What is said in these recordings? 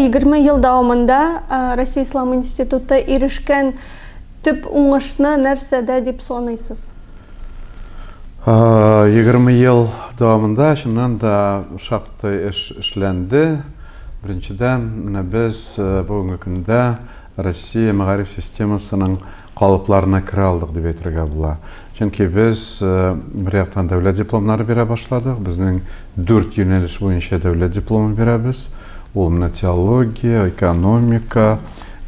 20 ел дәвамында Россия Ислам институты ирешкән төп уңышны нәрсәдә дип саныйсыз? 20 ел дәвамында чыннан да шактый эш эшләнде. Беренчедән, менә без бүгенге көндә Россия мәгариф системасының калыпларына керә алдык дип әйтергә була. Чөнки без, бер яктан, дәүләт дипломнары бирә башладык. Безнең дүрт юнәлеш буенча дәүләт дипломы бирәбез. Ул менә теология, экономика,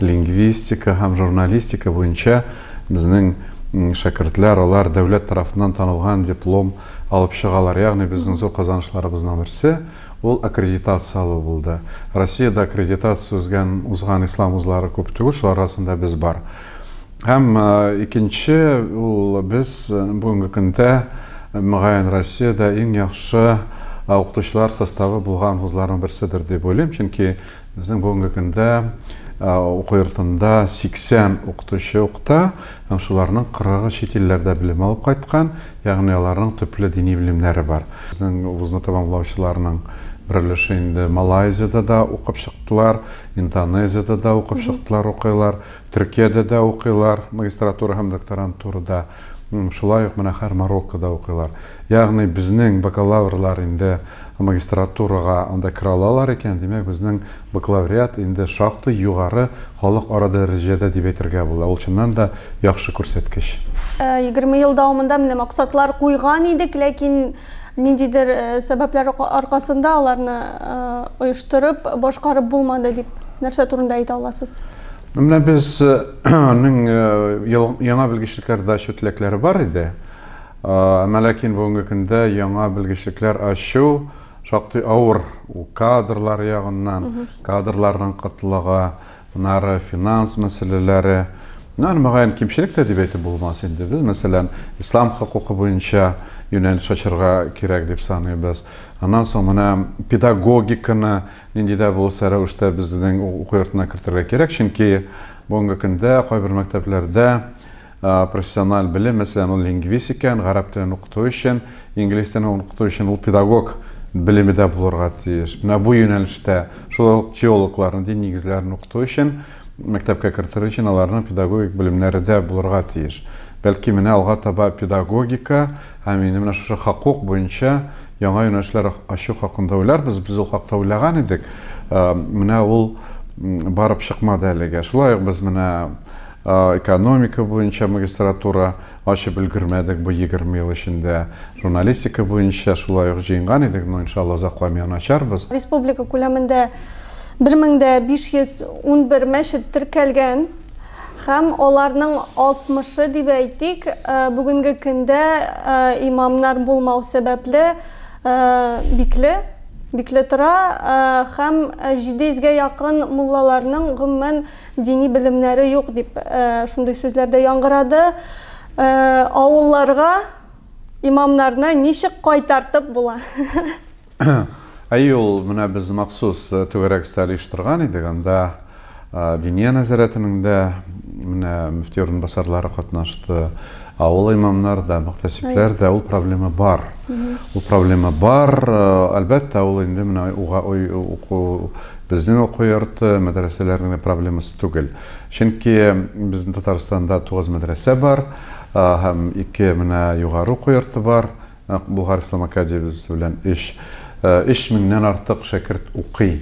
лингвистика һәм журналистика буенча безнең шәкертләр, алар дәүләт тарафыннан танылган диплом алып чыгалар. Ягъни безнең зур казанышларыбызның берсе. Ул аккредитация алу булды. Россиядә аккредитация узган узган ислам вузлары күп түгел, шулар арасында без бар. Һәм икенче ул без бүгенге көндә мөгаен Россиядә иң яхшы укытучылар составы булган вузларның берседер дип уйлыйм, чөнки Безнең бүгенге көндә уку йортында 80 укытучы укыта, һәм шуларның 40-ы чит илләрдә белем алып кайткан, ягъни аларның төпле дини белемнәре бар. Безнең вузны тәмамлаучыларның бер өлеше инде Малайзиядә дә укып чыктылар, Индонезиядә дә укып чыктылар, укыйлар, Төркиядә дә укыйлар, магистратура һәм докторантурада. Шулай ук менә хәер Мароккода укыйлар. Ягъни безнең бакалаврлар инде магистратурага анда керә алалар икән, димәк, безнең бакалавриат инде шактый югары халык ара дәрәҗәдә дип әйтергә була. Ул чыннан да яхшы күрсәткеч. Егерме ел дәвамында менә максатлар куйган идек, ләкин ниндидер сәбәпләр аркасында аларны оештырып, башкарып булмады, дип нәрсә турында әйтә аласыз? Менә без ның яңа белгечлекләр дә ачу теләкләре бар иде. Әмма ләкин бүгенге көндә яңа белгечлекләр ачу шактый авыр кадрлар ягыннан, кадрларның кытлыгы, аннары финанс мәсьәләләре. Менә мөгаен кимчелек тә дип әйтеп булмас инде. Без, мәсәлән, ислам хокукы буенча юнәлеш ачырга кирәк дип саныйбыз. Аннан соң менә педагогиканы, Нинди дә булса рәвештә безнең уку йортына кертергә кирәк, чөнки бүгенге көндә кайбер мәктәпләрдә профессиональ белем, мәсәлән, ул лингвист икән, гарәп телен укыту өчен, инглиз телен укыту өчен ул педагог белеме дә булырга тиеш. Менә бу юнәлештә шулай ук теологлар нинди нигезләрен укыту өчен Мәктәпкә кертер өчен аларның педагогик белемнәре дә булырга тиеш. Бәлки, менә алга таба педагогика һәм инде менә шушы хокук буенча яңа юнәлешләр ачу хакында уйларбыз. Без ул хакта уйлаган идек. Менә ул барып чыкмады әлегә. Шулай ук без менә экономика буенча магистратура Ачып өлгермәдек бу егерме ел эчендә. Журналистика буенча шулай ук җыенган идек, но, иншалла, озакламый аны ачарбыз. Республика күләмендә бер мең дә биш йөз унбер мәчет теркәлгән һәм аларның алтмышы, дип әйтик, бүгенге көндә имамнар булмау сәбәпле, бикле, бикле тора һәм җиде йөзгә якын муллаларның, гомумән, Дини белемнәре юк, дип шундый сүзләр дә яңгырады. Авылларга имамнарны ничек кайтартып була? Әйе, ул менә без махсус түгәрәк өстәл оештырган идек, анда Диния нәзарәтенең дә менә мөфти урынбасарлары катнашты. Авыл имамнар да, мөхтәсибләр дә ул проблема бар. Ул проблема бар. Әлбәттә, ул инде менә уга уку безнең уку йорты, мәдрәсәләр генә проблемасы түгел. Чөнки безнең Татарстанда 9 мәдрәсә бар һәм ике менә югары уку йорты бар. Болгар ислам академиясе белән өч, өч меңнән артык шәкерт укый.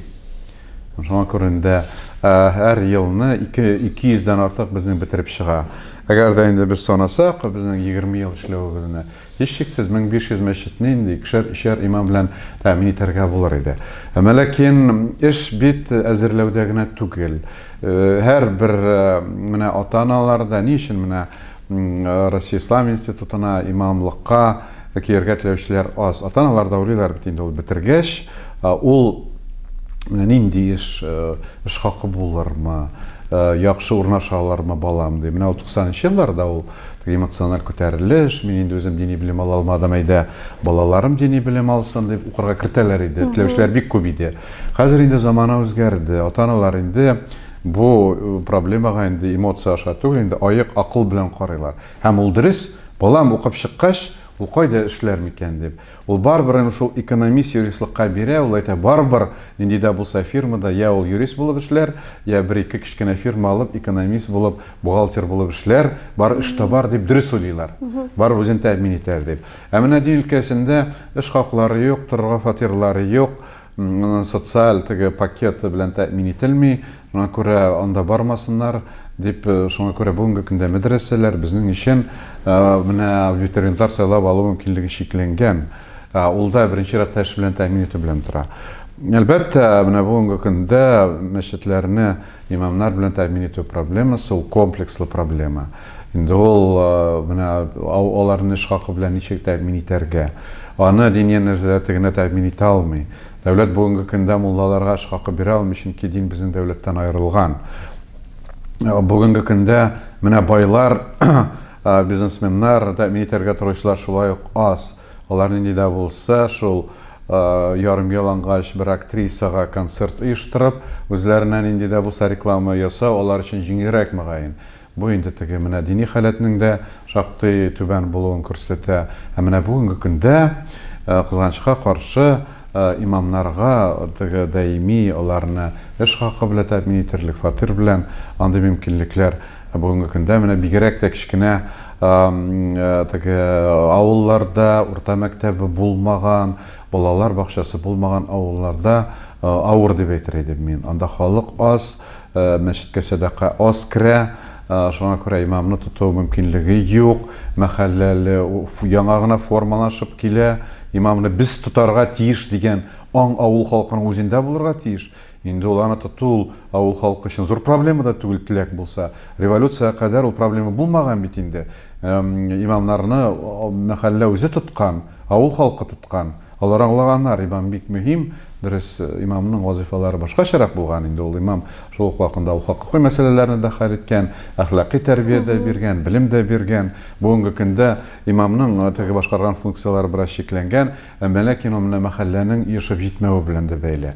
Шуңа күрендә һәр елны ике, ике йөздән артык безнең бетереп чыга. Әгәр дә инде без санасак, безнең егерме ел эшләвебезне, һичшиксез, мең биш йөз мәчетне инде икешәр, өчәр имам белән тәэмин итәргә булыр иде. Әмма ләкин эш бит әзерләүдә генә түгел. Һәр бер менә ата-аналар да ни өчен менә Россия Ислам институтына, имамлыкка килергә теләүчеләр аз. Ата-аналар да уйлыйлар бит инде ул бетергәч, ул менә нинди эш, эш хакы булырмы, яхшы урнаша алырмы балам ди. Менә ул 90-нчы елларда ул эмоциональ күтәрелеш, мин инде үзем дини белем ала алмадым, әйдә, балаларым дини белем алсын дип укырга кертәләр иде. Теләүчеләр бик күп иде. Хәзер инде замана үзгәрде. Ата-аналар инде Бу проблемага инде эмоция аша түгел, инде аек акыл белән карыйлар. Һәм ул дөрес, балам укып чыккач, ул кайда эшләр микән дип. Ул барыбер инде шул экономист-юристлыкка бирә, ул әйтә, барыбер нинди дә булса фирмада йә ул юрист булып эшләр, йә бер-ике кечкенә фирма алып, экономист булып, бухгалтер булып эшләр, барыбер эш табар дип дөрес уйлыйлар. Барыбер үзен тәэмин итәр дип. Ә менә дин өлкәсендә эш хаклары юк, торырга фатирлары юк. Моның социаль теге пакеты белән тәэмин ителми, моңа күрә анда бармасыннар, дип, шуңа күрә бүгенге көндә мәдрәсәләр безнең өчен менә ветеринар сайлап алу мөмкинлеге чикләнгән. Ул да беренче чиратта эш белән тәэмин итү белән тора. Әлбәттә, менә бүгенге көндә мәчетләрне Имамнар белән тәэмин итү проблемасы, ул комплекслы проблема. Инде ул менә аларны эш хакы белән ничек тәэмин итәргә? Аны дини нәзарәте генә тәэмин итә алмый. Дәүләт бүгенге көндә муллаларга эш хакы бирә алмый, чөнки дин безнең дәүләттән аерылган. Бүгенге көндә менә байлар, бизнесменнар, тәэмин итәргә торучылар шулай ук аз. Алар нинди дә булса, шул ярым ялангач бер актрисага концерт оештырып, үзләренә нинди дә булса реклама ясау алар өчен җиңелрәк, мөгаен. Бу инде теге менә дини халәтнең дә шактый түбән булуын күрсәтә. Ә менә бүгенге көндә, кызганычка каршы, имамнарга теге даими аларны эш хакы белән тәэмин итерлек, фатир белән андый мөмкинлекләр, Ә бүгенге көндә менә бигерәк тә кечкенә теге авылларда урта мәктәбе булмаган, балалар бакчасы булмаган авылларда авыр дип әйтер идем мин. Анда халык аз, мәчеткә сәдака аз керә, шуңа күрә имамны тоту мөмкинлеге юк. Мәхәлләле яңа гына формалашып килә, имамны без тотарга тиеш дигән аң авыл халкының үзендә булырга тиеш. Инде ул аны тоту ул авыл халкы өчен зур проблема да түгел, теләк булса. Революциягә кадәр ул проблема булмаган бит инде. Имамнарны мәхәллә үзе тоткан, авыл халкы тоткан. Алар аңлаганнар, имам бик мөһим. Дөрес, имамның вазыйфалары башкачарак булган инде. Ул имам шул ук вакытында ул хокукый мәсьәләләрне дә хәл иткән, әхлакый тәрбия дә биргән, белем дә биргән. Бүгенге көндә имамның теге башкарган функцияләре бераз чикләнгән. Әмма ләкин ул менә мәхәлләнең ешып җитмәве белән дә бәйле.